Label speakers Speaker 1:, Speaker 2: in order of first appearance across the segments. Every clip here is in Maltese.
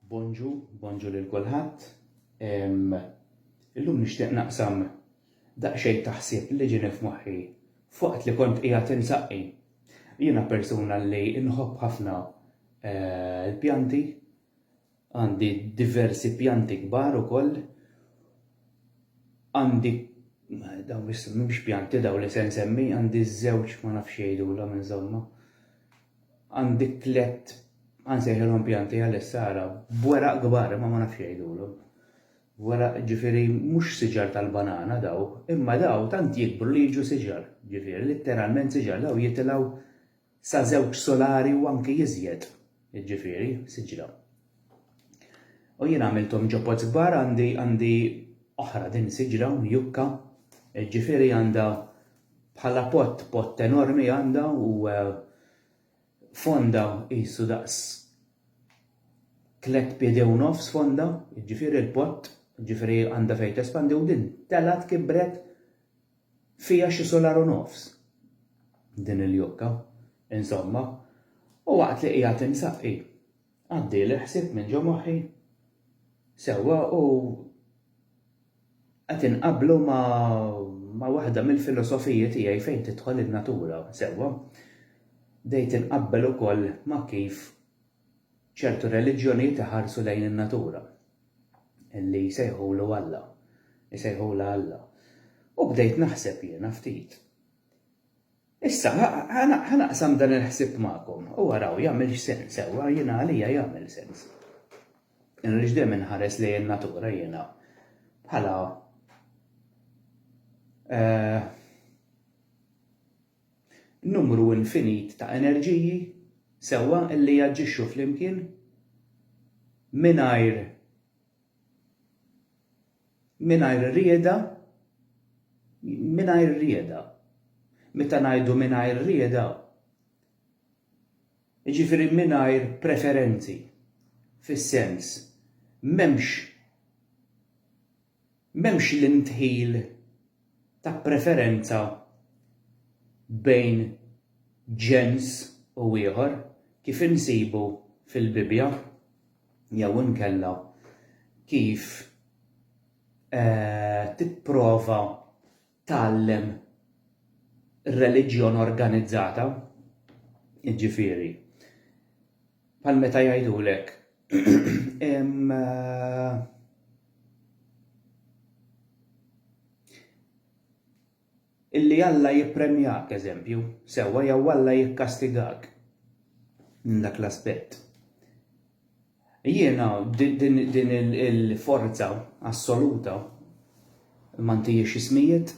Speaker 1: Bonġu, bonġu lil kulħadd. Illum nixtieq naqsam daqsxejn ta' ħsieb li ġieni f'moħħi f'waqt li kont qiegħed insaqqi. Jiena persuna li nħobb ħafna eh, l-pjanti, għandi diversi pjanti kbar ukoll, għandi daw mhux pjanti daw li se nsemmi, għandi żewġ ma nafx jgħidulhom insomma. Għandi tlett, ħa nsejħilhom pjanti għalissa ara, b'weraq kbar imma ma nafx jgħidulhom. Weraq ġifieri mhux siġar tal-banana daw, imma daw tant jikbru li jiġu siġar, ġifieri litteralment siġar, daw jitilgħu sa żewġ solari u anki iżjed, jiġifieri siġra. U jien għamilthom ġo pots kbar għandi għandi oħra din siġra mjukka, jiġifieri għandha Bħala pott, pott enormi għandha u fondha qisu daqs tliet piedi u nofs fondha, jiġifieri l-pott, jiġifieri għandha fejn tespandi u din telgħet kibret fiha xi sular u nofs din il-jokka, insomma, u waqt li qiegħed insaqqi Għaddi l-ħsieb minn ġo moħħi. Sewwa u qed inqabblu ma' ma' waħda mill-filosofiji tiegħi fejn tidħol in-natura, sewwa. Bdejt inqabbel ukoll ma' kif ċertu reliġjonijiet iħarsu lejn in-natura, li jsejħulu Alla, isejħulha Alla. U bdejt naħseb jiena ftit. Issa, ħa naqsam dan il-ħsieb magħkom u araw jagħmilx sens, ewwa, jiena għalija jagħmel sens. Jiena għaliex dejjem inħares lejn in-natura jiena bħala eh, numru infinit ta' enerġiji sewwa illi jaġġixxu flimkien mingħajr Mingħajr rieda Mingħajr rieda Meta ngħidu mingħajr rieda, jiġifieri mingħajr preferenzi, fis-sens, m'hemmx m'hemmx l-indħil ta' preferenza bejn ġens u ieħor kif insibu fil-Bibbja. jew inkella kif tipprova tgħallem reliġjon organizzata, jiġifieri bħal meta jgħidulek Illi Alla jippremjak, eżempju, sewwa jew Alla jikkastigak minn dak l-aspett. Jiena din il-forza assoluta ma ntihiex ismijiet,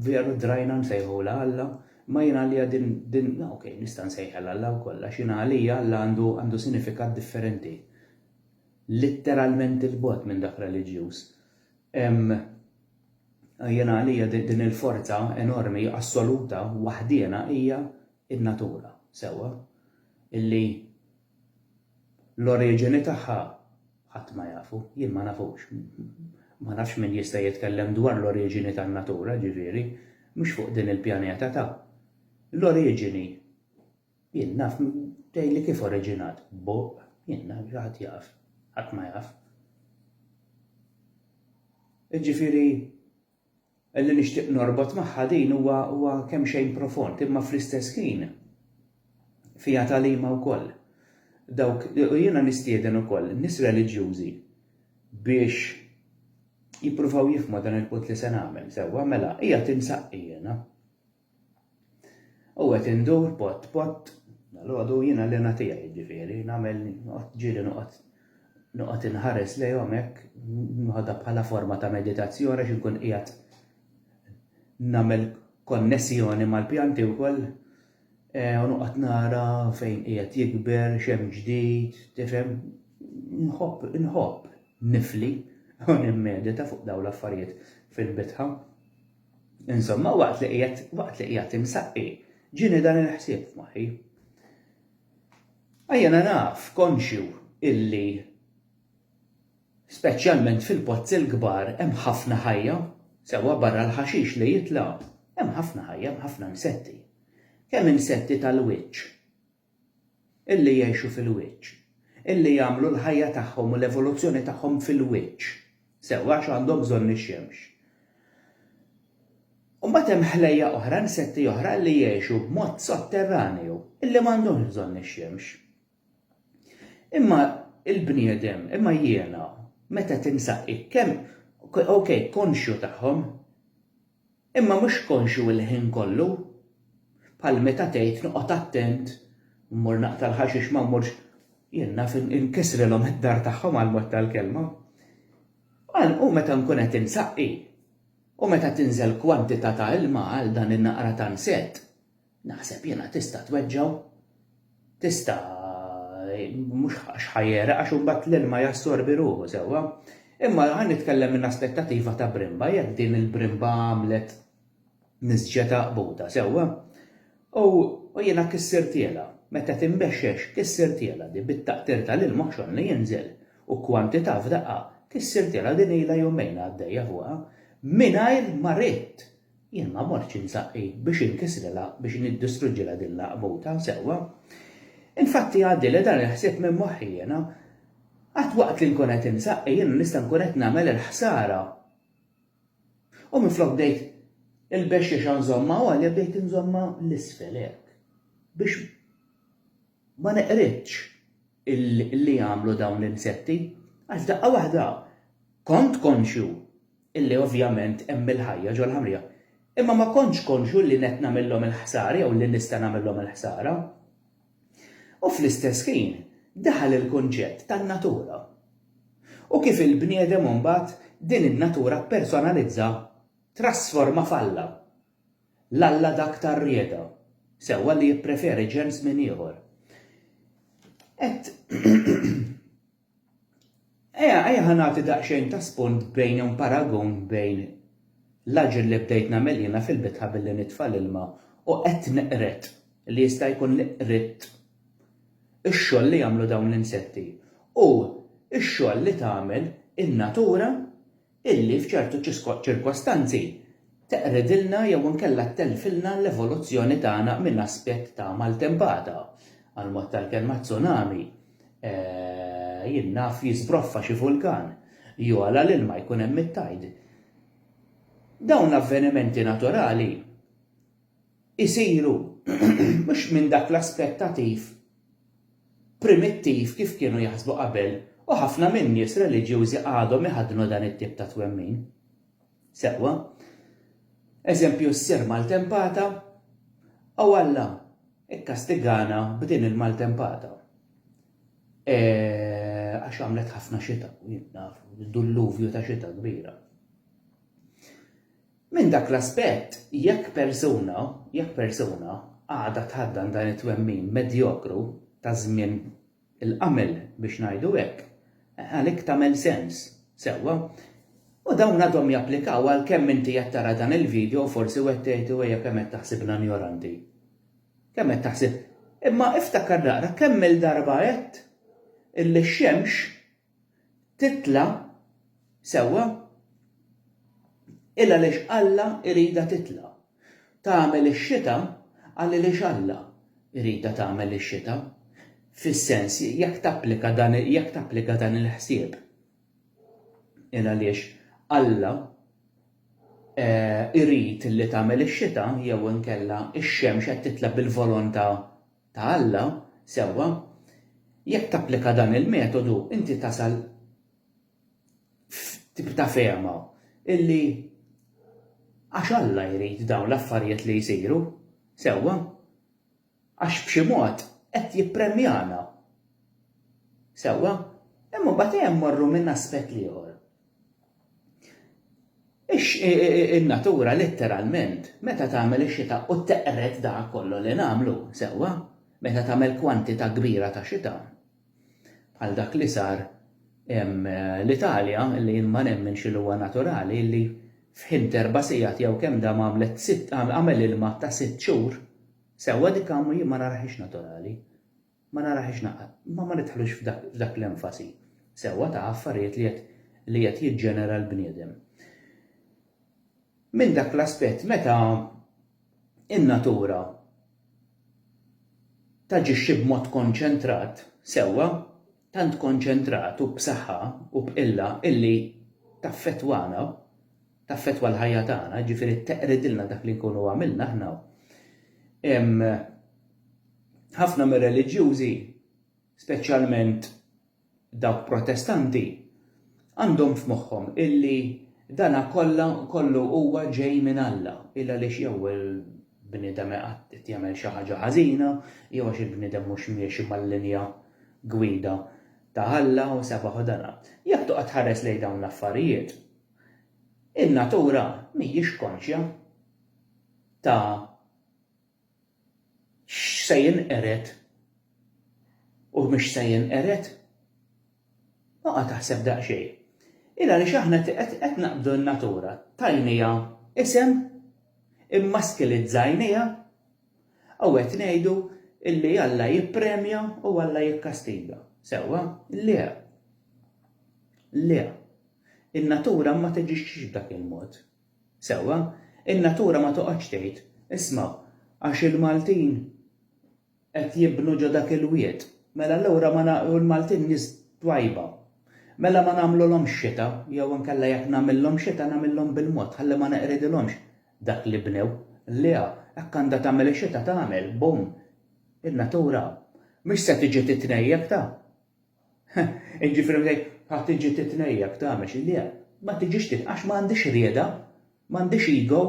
Speaker 1: veru drajna nsejħulha Alla, imma jiena għalija din, ok, nista' nsejħilha Alla wkoll għax jiena għalija Alla għandu sinifikat differenti, litteralment 'il bogħod minn dak reliġjuż. Jiena għalija din il-forza enormi, assoluta, waħdiena hija n-natura, sewwa, illi l-oriġini tagħha ħadd ma jafu, jien ma nafux. Ma nafx min jista' jitkellem dwar l-oriġini tan-natura, ġifieri, mhux fuq din il-pjaneta ta'. L-oriġini. Jien naf tgħidli kif oriġinat, b'buq, jien naf xi ħadd jaf, ħadd ma jaf. Jiġifieri li nixtieq norbot magħha din huwa huwa kemm xejn profond, imma fl-istess ħin fija talima wkoll. Dawk u jiena nistieden ukoll nies reliġjużi biex jippruvaw jifhmu dan il-punt li se nagħmel, sewwa mela hija tinsaqqi jiena. U qed indur bot bot dal-għodu jiena li natija jiġifieri, nagħmel ġieli noqgħod noqgħod inħares lejhom hekk, nħodha bħala forma ta' meditazzjoni għax inkun qiegħed nagħmel konnessjoni mal-pjanti wkoll e, u noqgħod nara fejn qiegħed jikber, x'hemm ġdid, tifhem, nħobb nħobb nifli u nimmedita fuq dawn l-affarijiet fil-bitħa. Insomma, waqt li qiegħed waqt li qiegħed imsaqqi, ġini dan il-ħsieb f'moħħi. Ejjena naf konxju illi speċjalment fil-pozzi l-kbar hemm ħafna ħajja, sewwa barra l-ħaxix li jitla' hemm ħafna ħajja, hemm ħafna insetti. Kemm insetti tal-wiċċ, illi jgħixu fil-wiċċ, illi jagħmlu l-ħajja tagħhom u l-evoluzzjoni tagħhom fil-wiċċ, sew, għax għandhom bżonn ix-xemx. U mbagħad hemm ħlejjaq oħra, insetti oħra illi jgħixu b'mod sotterranju, illi m'għandhomx bżonn ix-xemx. Imma il-bniedem, imma jiena, meta tinsaq hekk, kemm, okej, konxju tagħhom, imma mhux konxju il-ħin kollu. Bħal meta tgħid noqgħod attent, mmur naqta' l-ħaxix ma mmurx, jien naf inkissrilhom id-dar tagħhom għall-mod tal-kelma. Għal u meta nkun qed insaqqi, u meta tinżel kwantità ta' ilma għal dan in-naqra ta' nsett, Naħseb jiena tista' tweġġgħu. Tista' mhux għax ħajereq għax imbagħad l-ilma jassorbi ruħu sewwa. Imma ħa nitkellem minn aspettativa ta' brimba, jekk din il-brimba għamlet nisġa ta' qbuta sewwa. U jiena kissirtielha, meta tinbexxex kissirtielha di bit-taqtir tal-ilma xogħol li jinżel u kwantità f'daqqa kissirtielha din ilha jumejn għaddejja fuqha mingħajr ma ridt Jien ma mortx insaqi biex inkisrilha, biex niddistruġġilha din l-għaqbuta, sewwa? Infatti jgħaddi li dan il-ħsieb minn moħħi jiena. Qatt waqt li nkun qed insaqi jiena nista' nkun qed nagħmel il-ħsara. U minflok bdejt il-bexxiexa nżommha għolja bdejt inżommha l-isfel hekk. Biex ma neqridx li jagħmlu dawn l-insetti, għax daqqa waħda kont konxju illi ovvjament hemm il-ħajja ġol-ħamrija, imma ma kontx konxju li qed nagħmillhom il-ħsara jew li nista' nagħmillhom il-ħsara. U fl-istess ħin daħal il-kunċett tan-natura u kif il-bniedem imbagħad din in-natura ppersonalizza, trasforma f'alla, l-alla dak tar-rieda, sewwa li jippreferi ġens minn ieħor. Qed. Ejja, ejja ħa nagħti daqsxejn ta' spunt bejn jew paragun bejn l-aġir li bdejt nagħmel jiena fil-bitħa billi nitfa' l-ilma u qed neqred, li jista' jkun li qridt, ix-xogħol li jagħmlu dawn l-insetti u x-xogħol li tagħmel in-natura illi f'ċertu ċirkostanzi teqredilna jew inkella ttellfilna l-evoluzzjoni tagħna minn aspett ta' maltempata, għall-mod tal-kelma tsunami, jien naf jiżbroffa xi vulkan, jogħla l-ilma jkun hemm it-tide. Dawn l-avvenimenti naturali isiru mhux minn dak l-aspettativ primittiv kif kienu jaħsbu qabel u ħafna min-nies reliġjużi għadhom iħaddnu dan it-tip ta' twemmin. Sewwa. Eżempju s-Sir maltempata, O Alla, ikkastigana b'din il-maltempata. E, għax għamlet ħafna xita, jien naf, dulluvju ta' xita kbira. Minn dak l-aspett, jekk persuna, jekk persuna, għadha tħaddan dan it-twemmin medjokru ta' żmien il-qamel, biex ngħidu hekk, għalik tagħmel sens. Sewwa. U dawn għadhom japplikaw għalkemm inti qed tara dan il-video u forsi wieħed jgħid u ejja kemm qed taħsibna njoranti. Kemm qed taħsib. Imma iftakar naqra kemm-il darba għedt illi x-xemx titla' sewwa il għaliex Alla jridha titla'. Tagħmel ix-xita għal għaliex Alla jridha tagħmel ix-xita, fis-sens jekk tapplika dan jekk tapplika dan il-ħsieb il għaliex Alla jrid li tagħmel ix-xita jew inkella x-xemx qed titla' bil-volontà ta' Alla, sewwa, jekk tapplika dan il-metodu inti tasal f'tip ta' fehma illi għax Alla jrid dawn l-affarijiet li jsiru, sewwa, għax b'xi mod qed jippremjana, sewwa, imma mbagħad ejja mmorru minn aspett l-ieħor. In-natura litteralment meta tagħmel ix-xita u teqred dak kollu li nagħmlu, sewwa, meta tagħmel kwantità kbira ta' xita, bħal dak li sar l-Italja li jien ma nemminx li huwa naturali li f'ħin t'erba' sigħat jew kemm dam għamlet sitt għamel ilma ta' sitt xhur, sewwa dik jien ma narahiex naturali. Ma narahiex naqgħad. Imma ma nidħlux f'dak l-enfasi sewwa ta' affarijiet li qed jiġġenera l-bniedem. Minn dak l-aspett meta n-natura taġixxi b'mod konċentrat sewwa, tant konċentrat u b'saħħa u b'qilla illi taffettwana, taffettwa l-ħajja tagħna, jiġifieri teqridilna dak li nkunu għamilna aħna, Ħafna mir-reliġjużi, speċjalment dawk Protestanti, għandhom f'moħħhom illi dana kollha kollu huwa ġej minn Alla, il għaliex jew il-bniedem qed jagħmel xi ħaġa ħażina, jew għax il-bniedem mhux miexi mal-linja gwida ta' Alla u sebaħ u dana. Jekk toqgħod tħares lejn dawn l-affarijiet, in-natura mhijiex konxja ta' x'se jinqered u mhux se jinqered. Oqa' taħseb daqsxejn. Il għaliex aħna qed naqbdu n-natura, tajniha isem, immaskilizzajniha u qed ngħidu li Alla jippremja u Alla jikkastiga. Sewwa? Le. Le. In-natura ma taġixxix b'dak il-mod. Sewwa, in-natura ma toqgħodx tgħid, Isma', għax il-Maltin qed jibnu ġo dak il-wied, mela allura ma u l-Maltin nies twajba, mela ma nagħmlulhomx xita jew inkella jekk nagħmillhom xita nagħmillhom bil-mod ħalli ma neqridilhomx dak li bnew. Le, hekk għandha tagħmel ix-xita tagħmel, bum! In-natura mhix se tiġi titnejjek ta! Jiġifieri meta jgħid ħa tiġi titnejjek tagħmel xi le, ma tiġix titnejjek għax ma għandhiex rieda, ma għandhiex ego,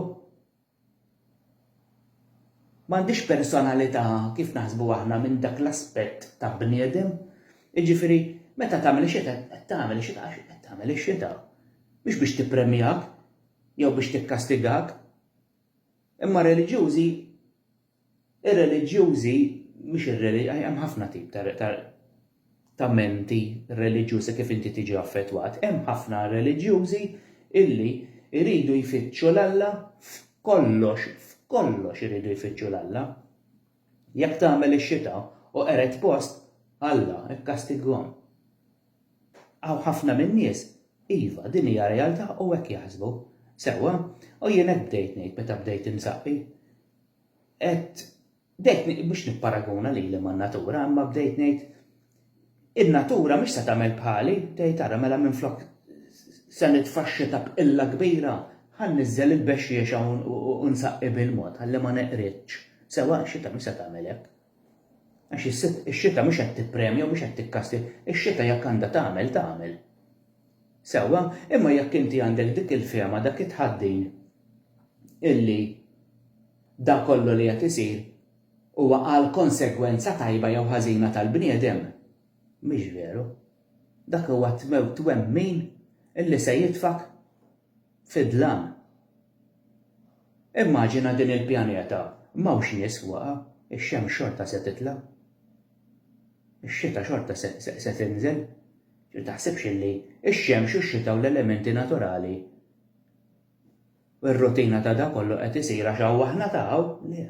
Speaker 1: ma għandhiex personalità kif naħsbu aħna minn dak l-aspett ta' bniedem. Jiġifieri meta tagħmel ix-xita qed tagħmel ix-xita għax qed tagħmel ix-xita. Mhux biex tippremjak jew biex tikkastigak. Imma r-reliġjużi Ir-reliġjużi, mhux ir-reli, hemm ħafna tip ta' ta' ta' menti reliġjuż e kif inti tiġi affettwat. Hemm ħafna reliġjużi illi jridu jfittxu 'l Alla f'kollox, f'kollox iridu jfittxu 'l Alla. Jekk tagħmel ix-xita u qered post, Alla kkastighom. Hawn ħafna min-nies, iva, din hija realtà u hekk jaħsbu. Sewwa, u jien hekk bdejt ngħid meta bdejt insaqi. qed bdejt biex nipparaguna lili man-natura, imma bdejt ngħid in-natura mhix se tagħmel bħali, tgħid ara mela minflok se nitfaxxi ta' bqilla kbira, ħa niżżel il-bexxiexa u nsaqi bil-mod ħalli ma neqridx. Sewa, ix-xita mhix se tagħmel hekk. Għax ix-xita mhux qed tippremja u mhux qed tikkasti, ix-xita jekk għandha tagħmel tagħmel. Sewwa, imma jekk inti għandek dik il-fehma, dak it-tħaddin illi dak kollu li qed isir huwa għal konsegwenza tajba jew ħażina tal-bniedem, mhix veru. Dak huwa twemmin illi se jitfgħek fid-dlam. Immaġina din il-pjaneta m'hawnx nies fuqha, ix-xemx xorta se titla'. Ix-xita xorta se tinżel. Ġifieri taħsibx li x-xemx u x-xita u l-elementi naturali u r-rutina ta' dan kollu qed isir għax hawn aħna ta' hawn? Le.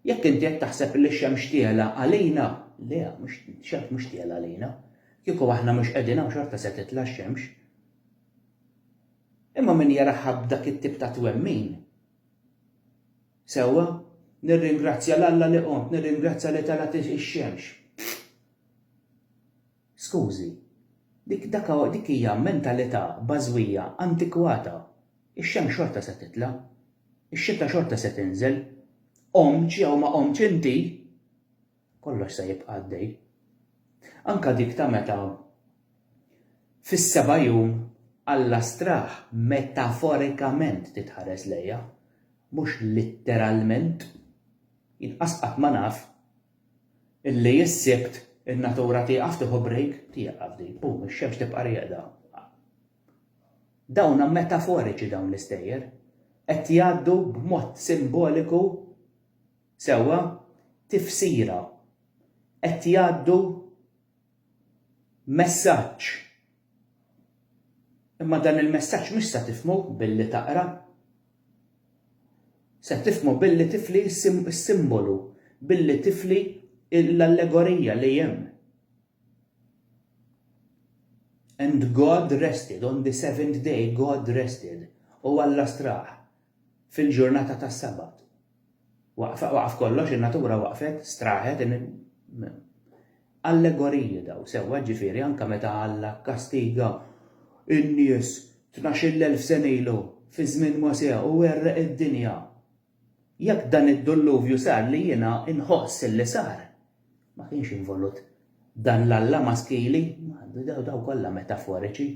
Speaker 1: Jekk inti qed taħseb li x-xemx tiegħla għalina, le, x-xemx mhux tiegħla għalina. Kieku aħna mhux qegħdin hawn xorta se titla' x-xemx. Imma min jaraha b'dak it-tip ta' twemmin, sewwa, nirringrazzja 'l Alla li qomt, nirringrazzja li telgħet ix-xemx. Skużi, dik, dak hu, dik hija mentalità bażwija antikwata. Ix-xemx xorta se titla'. Ix-xita xorta se tinżel. Qomtx jew ma qomtx inti, kollox se jibqa' għaddej. Anke dik ta' meta fis-seba' jum Alla straħ metaforikament titħares lejha, mhux litteralment. Jien qas qatt ma naf. Illi s-Sibt in-natura tieqaf tieħu break? Tieqaf din, boom, ix-xemx tibqa' rieqda. Dawna metaforiċi dawn l-istejjer. Qed jgħaddu b'mod simboliku sewwa tifsira. Qed jgħaddu messaġġ. Imma dan il-messaġġ mhux se tifhmu billi taqra. Se tifhmu billi tifli s-simbolu, billi tifli l-allegorija li hemm. And God rested, on the seventh day God rested, u Alla straħ. fil-ġurnata tas-Sabat. Waqfa, waqaf kollox, in-natura waqfet, straħet, in, Allegoriji daw, sewwa, ġifieri anke meta Alla kkastiga n-nies tnax-il elf sena ilu, fi żmien Mosè, u għerreq id-dinja. Jekk dan id-dulluvju sar li jiena nħoss li sar, ma kienx involut dan l-Alla maskili, daw kollha metaforiċi,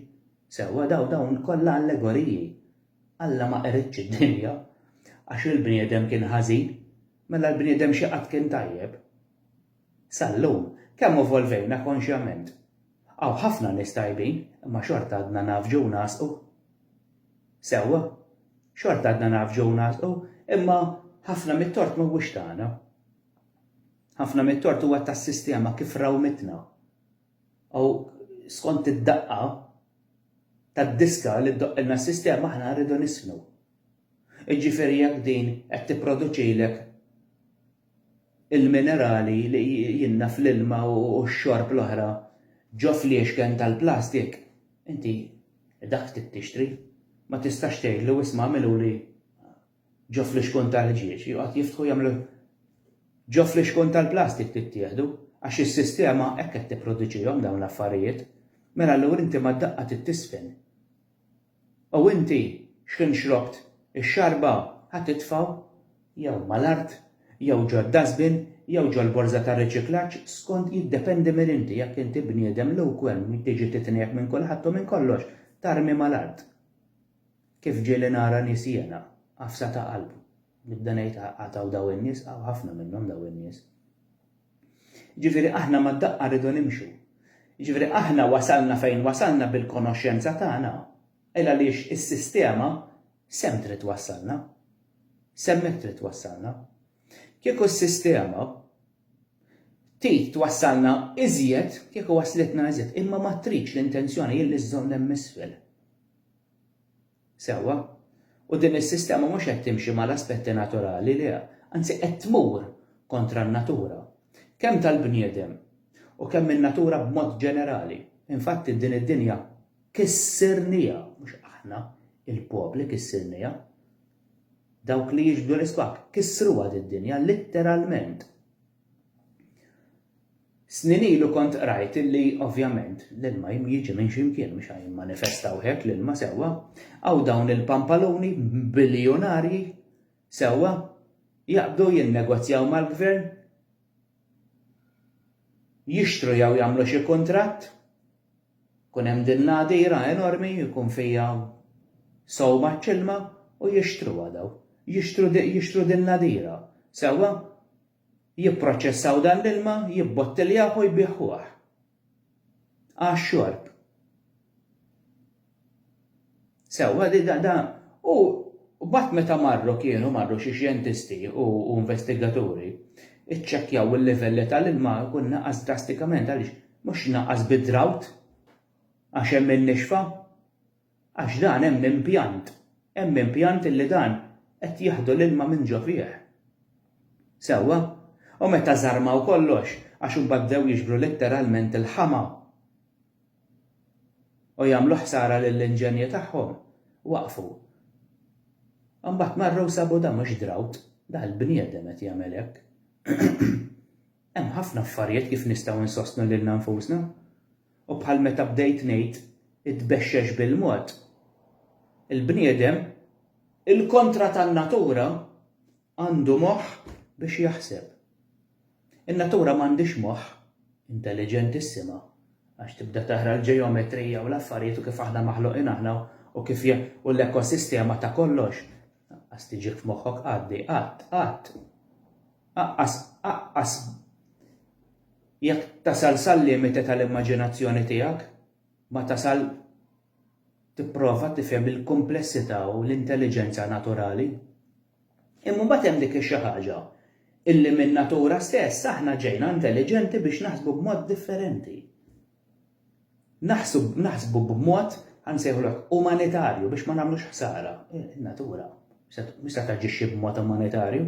Speaker 1: sewwa, daw, dawn kollha allegoriji, Alla ma qeredx id-dinja għax il-bniedem kien ħażin, mela l-bniedem xi qatt kien tajjeb? Sal-lum, kemm evolvejna konxjament? Hawn ħafna nies tajbin, imma xorta għadna ngħafġu u nagħsqu. Sewwa, xorta għadna ngħafġu u nagħsqu, imma ħafna mit-tort m'huwiex tagħna. Ħafna mit-tort huwa tas-sistema kif rawmitna. u skont id-daqqa tad-diska li ddoqqilna s-sistema aħna rridu nisħnu. Jiġifieri jekk din qed tipproduċilek il-minerali li jinnna fl-ilma u x-xorb l-oħra ġo fliexken tal-plastik, inti dak trid tixtri. Ma tistax tgħidlu isma' għamiluli Ġo flixkun tal-ħġieġ joqgħod jiftħu jagħmlu Ġo flixkun tal-plastik tittieħdu għax is-sistema hekk qed tipproduċihom dawn l-affarijiet. Mela allura inti mad-daqqa trid tiżfen. U inti x'ħin xrobt ix-xarba ħa titfgħu jew mal-art jew ġod-dustbin jew ġol-borża tar-riċiklaġġ skont jiddependi minn inti jekk inti bniedem lewkwem li tiġi titniegħek minn kulħadd u minn kollox tarmi mal-art. Kif ġieli nara nies jiena, għafsa ta' qalb. Nibda ngħid għad hawn dawn in-nies, hawn ħafna minnhom dawn in-nies. Jiġifieri aħna mad-daqqa rridu nimxu. Jiġifieri aħna wasalna fejn wasalna bil-konoxxenza tagħna, il għaliex is-sistema s'hemm trid twassalna. S'hemmhekk trid twassalna. Kieku s-sistema trid twassalna iżjed, kieku waslitna iżjed, imma ma tridx l-intenzjoni hi li żżomm hemm isfel. Sewwa. U din is-sistema mhux qed timxi mal-aspetti naturali, le, anzi qed tmur kontra n-natura, kemm tal-bniedem u kemm in-natura b'mod ġenerali. Infatti din id-dinja kissirnieha, mhux aħna, il-popli kissirnieha. Dawk li jixbdu l-isbakk kissruha did-dinja litteralment. Snin ilu kont qrajt illi ovvjament l-ilma jiġi minn xi mkien mhux għajn manifestaw hekk l-ilma sewwa. Hawn dawn il-pampaluni biljunarji sewwa jaqbdu jinnegozjaw mal-gvern jixtru jew jagħmlu xi kuntratt Ikun hemm din l-għadira enormi jkun fiha sawma ċ-ċilma u jixtruha dawn. Jixtru jixtru din l-għadira, sewwa? Jipproċċessaw dan l-ilma, jibbottiljah u jbiegħuh għax-xorb. Sewwa, da u mbagħad meta marru kienu marru xi xjentisti u investigaturi, iċċekkjaw il-livelli tal-ilma jkun naqas drastikament għaliex mhux naqas bi drought għax hemm in-nixfa għax dan hemm impjant, hemm impjant illi dan qed jaħdu l-ilma minn ġo fih. Sewwa? U meta żarmaw kollox għax imbagħad bdew jiġbru litteralment il-ħama. u jagħmlu ħsara lill-inġenji tagħhom, waqfu. Imbagħad marru u sabu dan mhux drought, dan il-bniedem qed jagħmel hekk. Hemm ħafna affarijiet kif nistgħu nsostnu lilna nfusna. U bħal meta bdejt ngħid itbexxex bil-mod, il-bniedem, il-kontra tan-natura, Għandu moħħ biex jaħseb. In-natura m'għandhiex moħħ, intelliġenti s-sema, għax tibda taqra l-ġeometrija u l-affarijiet u kif aħna maħluqin aħna u kif u l-ekosistema ta' kollox. Aqqas tiġik f'moħħok għaddi, qatt, qatt. Aqqas, aqqas. Jekk tasal sal-limite tal-immaġinazzjoni tiegħek, ma tasal tipprova tifhem il-kumplessità u l-intelliġenza naturali. Imma mbagħad hemm dik ix-xi ħaġa illi min-natura stess aħna ġejna intelliġenti biex naħsbu b'mod differenti. Naħsbu, naħsbu b'mod nsejħulek umanitarju biex ma nagħmlux ħsara. In-natura mhux se taġixxi b'mod umanitarju.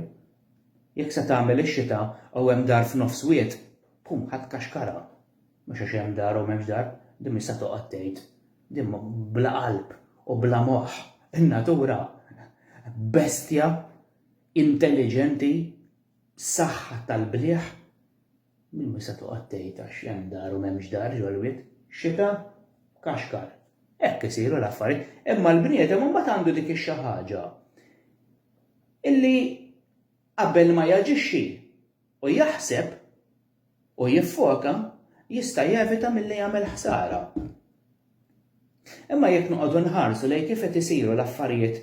Speaker 1: Jekk se tagħmel ix-xita u hemm dar f'nofs wied, pum ħadd kaxkara. Mhux għax hemm dar u m'hemmx dar, din mhix se toqgħod tgħid. Din bla qalb u bla moħħ. In-natura bestja intelliġenti b'saħħa tal-bliħ, din mhux se toqgħod tgħid għax hemm dar u m'hemmx dar ġol-wied. Xita, kaxkar. Hekk isiru l-affarijiet. Imma l-bniedem imbagħad għandu dik ix-xi ħaġa illi qabel ma jaġixxi u jaħseb u jiffoka, jista' jevita milli jagħmel ħsara. Imma jekk noqogħdu nħarsu lejn kif qed isiru l-affarijiet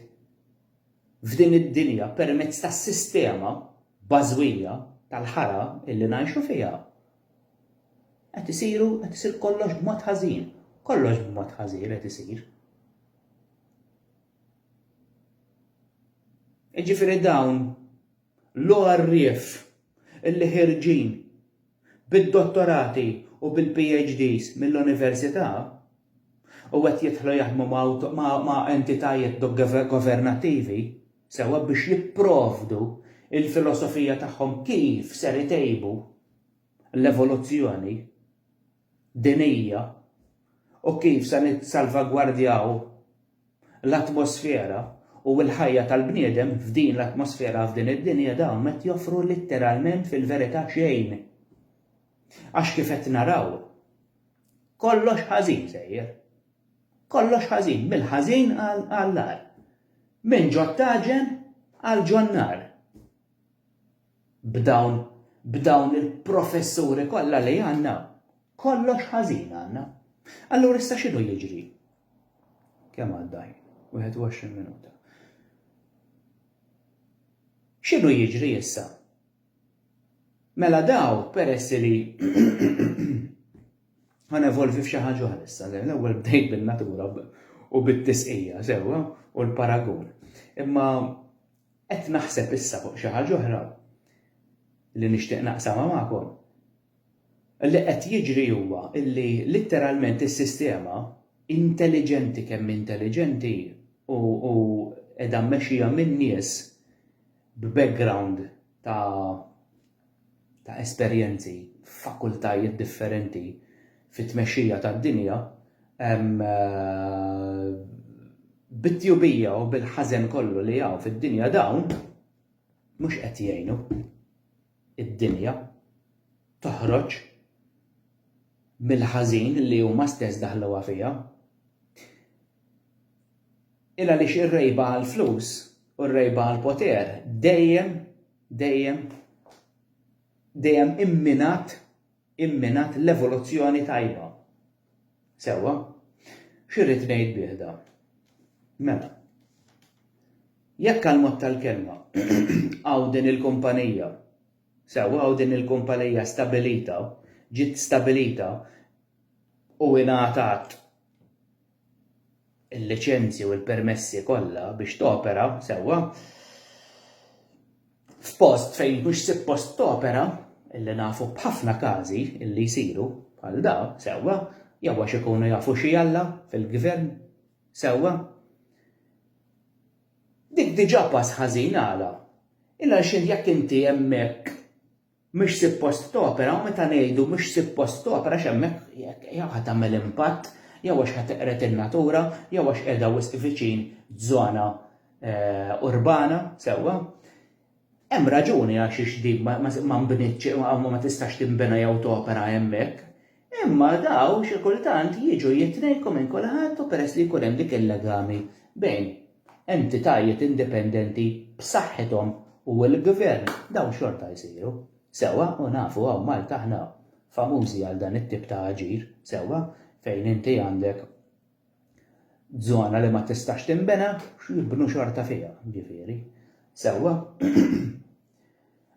Speaker 1: f'din id-dinja permezz tas-sistema bażwija tal-ħara illi ngħixu fiha, qed isiru qed isir kollox b'mod ħażin, kollox b'mod ħażin qed isir. Iġifieri dawn L-għarrief li ħierġin bid-dottorati u bil-PhDs mill-università u qed jidħlu jaħdmu ma' entitajiet governattivi sewwa biex jipprovdu l-filosofija tagħhom kif ser itejbu l-evoluzzjoni dinjija u kif se nissalvagwardjaw l-atmosfera u l-ħajja tal-bniedem f'din l-atmosfera f'din id-dinja dawn m'qed joffru litteralment fil-verità xejn. Għax kif qed naraw kollox ħażin sejjer. Kollox ħażin, mill-ħażin għall-agħar. Minn ġo t-taġen għal ġo n-nar. B'dawn, b'dawn il-professuri kollha li għandna, kollox ħażin għandna. Allura issa x'inhu jiġri? Kemm għadda ħin? 21 minuta. X'inhu jiġri issa? Mela daw peress li ħan evolvi f'xi ħaġa oħra issa, l-ewwel bdejt bin-natura u bit-tisqija sewwa u l-paragun. Imma Qed naħseb issa fuq xi ħaġa oħra li nixtieq naqsamha magħkom. Li qed jiġri huwa li litteralment is-sistema, intelliġenti kemm hi intelliġenti u qiegħda mmexxija minn nies b'background ta' ta' esperjenzi f'fakultajiet differenti fit-tmexxija tad-dinja, bit-tjubija u bil-ħażen kollu li hawn fid-dinja dawn mhux qed jgħinu d-dinja toħroġ mill-ħażin li huma stess daħluha fiha. Il għaliex ir-rejba għall-flus u r-rejba għall-poter dejjem dejjem dejjem imminat imminat l-evoluzzjoni tajba. Sewwa? X'irrid ngħid bih da? Mela, jekk għal mod tal-kelma hawn din il-kumpanija, sewwa hawn din il-kumpanija stabilita, ġiet stabilita u ingħatat il-liċenzji u l-permessi kollha biex topera sewwa f'post fejn mhux suppost topera illi nafu b'ħafna każi illi jsiru bħal da sewwa jew għax ikunu jafu xi Alla fil-gvern sewwa dik diġà pass ħażin għala il għaliex jekk inti hemmhekk mhix suppost topera u meta ngħidu mhix suppost topera għax hemmhekk jew ħa tagħmel impatt jew għax ħa teqred in-natura jew għax qiegħda wisq viċin żona urbana, sewwa, hemm raġuni għaliex din ma nbnietx u ma tistax tinbena jew topera hemmhekk. Imma dawn xi kultant jiġu jitnejku minn kulħadd u peress li jkun hemm dik il-legami bejn entitajiet indipendenti b'saħħithom u l-gvern, dawn xorta jsiru. Sewwa, u nafu hawn Malta aħna famużi għal dan it-tip ta' aġir, sewwa, fejn inti għandek Żona li ma tistax tinbena, x'jibnu xorta fiha, ġifieri. Sewwa?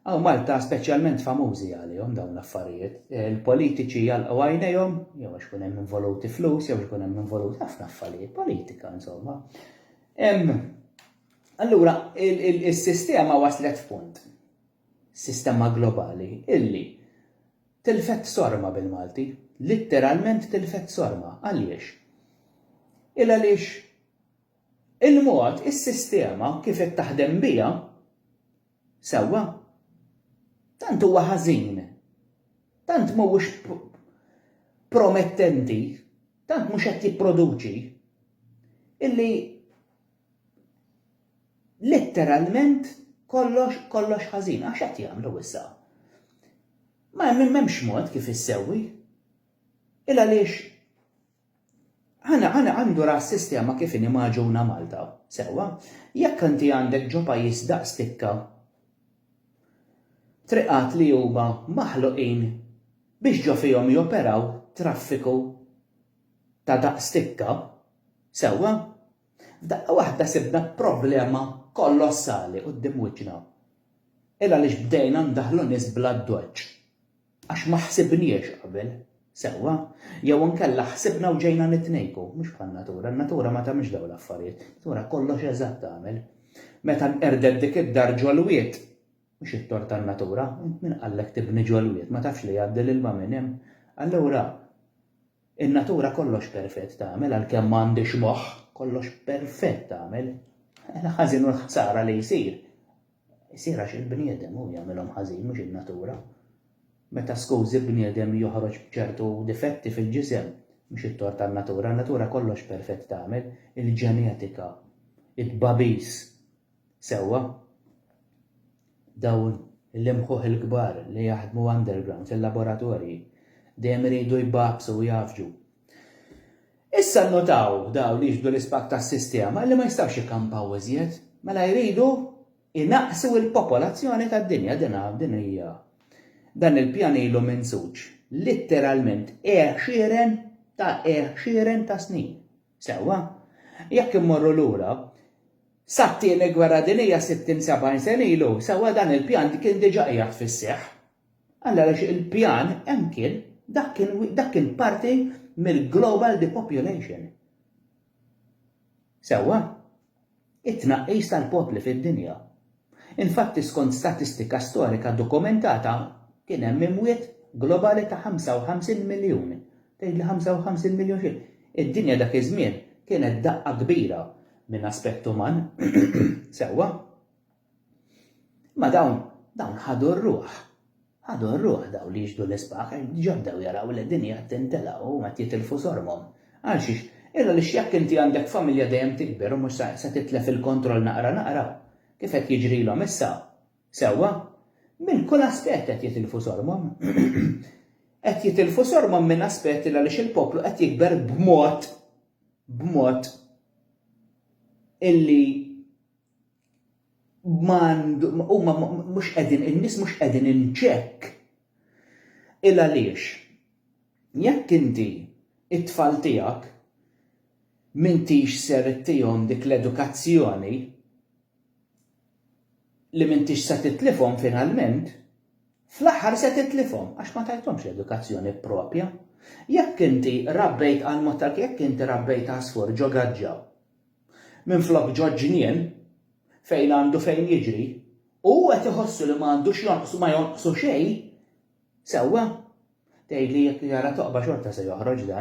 Speaker 1: Hawn Malta speċjalment famużi għalihom dawn l-affarijiet. Il-politiċi jalqgħu għajnejhom, jew għax ikun hemm involuti flus, jew għax ikun hemm involuti ħafna affarijiet, politika insomma. Allura, is-sistema waslet f'punt, sistema globali, illi Tilfet sorma bil-Malti. Litteralment tilfet sorma. Għaliex? Il-għaliex il-mod, is-sistema kif qed taħdem biha, sewwa, tant huwa ħażin, tant mhuwiex promettenti, tant mhux qed jipproduċi, illi Litteralment kollox kollox ħażin, għax qed jagħmlu issa? Ma hemm m'hemmx mod kif issewwi. Il għaliex ħana ħana għandu ra sistema kif inhi maġuna Malta, sewwa, jekk inti għandek ġo pajjiż daqs tikka triqat li huma maħluqin biex ġo fihom joperaw traffiku ta' daqs tikka, sewwa, F'daqqa waħda sibna problema kolossali quddiem wiċċna. Il għaliex bdejna ndaħħlu nies bl-addoċċ? Għax ma ħsibniex qabel sewwa, jew inkella ħsibna u ġejna nitnejku, mhux bħan-natura, n-natura ma tagħmilx dawn l-affarijiet, natura kollox eżatt tagħmel. Meta nqerdet dik id-dar ġolwiet, mhux it-tort tan-natura, min qallek tibni ġolwiet, ma tafx li jgħaddi l-ilma minn hemm. Allura, In-natura kollox perfett tagħmel għalkemm m'għandhiex moħħ, kollox perfett tagħmel. Il-ħażin u l-ħsara li jsir, isir għax il-bniedem hu jagħmilhom ħażin mhux in-natura. Meta skużi bniedem joħroġ b'ċertu difetti fil-ġisem, mhux it-tort tan-natura, in-natura kollox perfett tagħmel, il-ġenetika, it-tbagħbis, Sewwa, dawn l-imħuħ il-kbar li jaħdmu underground fil-laboratorji dejjem iridu jbabbsu u jgħaffġu. Issa nnotaw dawn li jixbdu l-ispak tas-sistema illi ma jistgħux jikkampaw iżjed, mela jridu jnaqqsu l-popolazzjoni tad-dinja. Din din hija dan il-pjan ilu minsuġ litteralment għexieren ta' għexieren ta' snin. Sewwa, jekk immorru lura, sat-Tieni Gwerra Dinjija 60, 70 sena ilu, sewwa dan il-pjan kien diġà qiegħed fis-seħħ. Alla għaliex il-pjan hemm kien, dak kien dak kien parti mill-global depopulation. Sewwa? it-tnaqqis tal-popli fid-dinja. Infatti skont statistika storika dokumentata kien hemm imwiet globali ta' 55 miljun. Tgħidli 55 miljun xi? Id-dinja dak iż-żmien kienet daqqa kbira minn aspett uman. Sewwa. Ma dawn, dawn ħadu r-ruħ. Ħadu r-ruħ daw li jixdu l-isbaħ, ġabdew jaraw li d-dinja qed tintela' u qed jitilfu sormhom. Għal xiex? Illa għaliex jekk inti għandek familja dejjem tikber u mhux se titlef il-kontroll naqra naqra, kif qed jiġrilhom issa. Sewwa? Minn kull aspett qed jitilfu sormhom. Qed jitilfu sormhom minn aspett illa għaliex il-poplu qed jikber b'mod, b'mod illi huma mhux qegħdin in-nies mhux qegħdin in check. Il għaliex jekk inti it-tfal tiegħek m'intix ser ittihom dik l-edukazzjoni li m'intix se titlifhom finalment, fl-aħħar se titlifhom għax ma tajthomx edukazzjoni propja. Jekk inti rabbejt għal mod tal jekk inti rabbejt għasfur ġo gaġġa Minflok ġo ġnien, fejn għandu fejn jiġri, u hu qed iħossu li ma għandux jonqsu ma jonqsu xejn, sewwa, tgħidli jekk jara toqba xorta se joħroġ dan.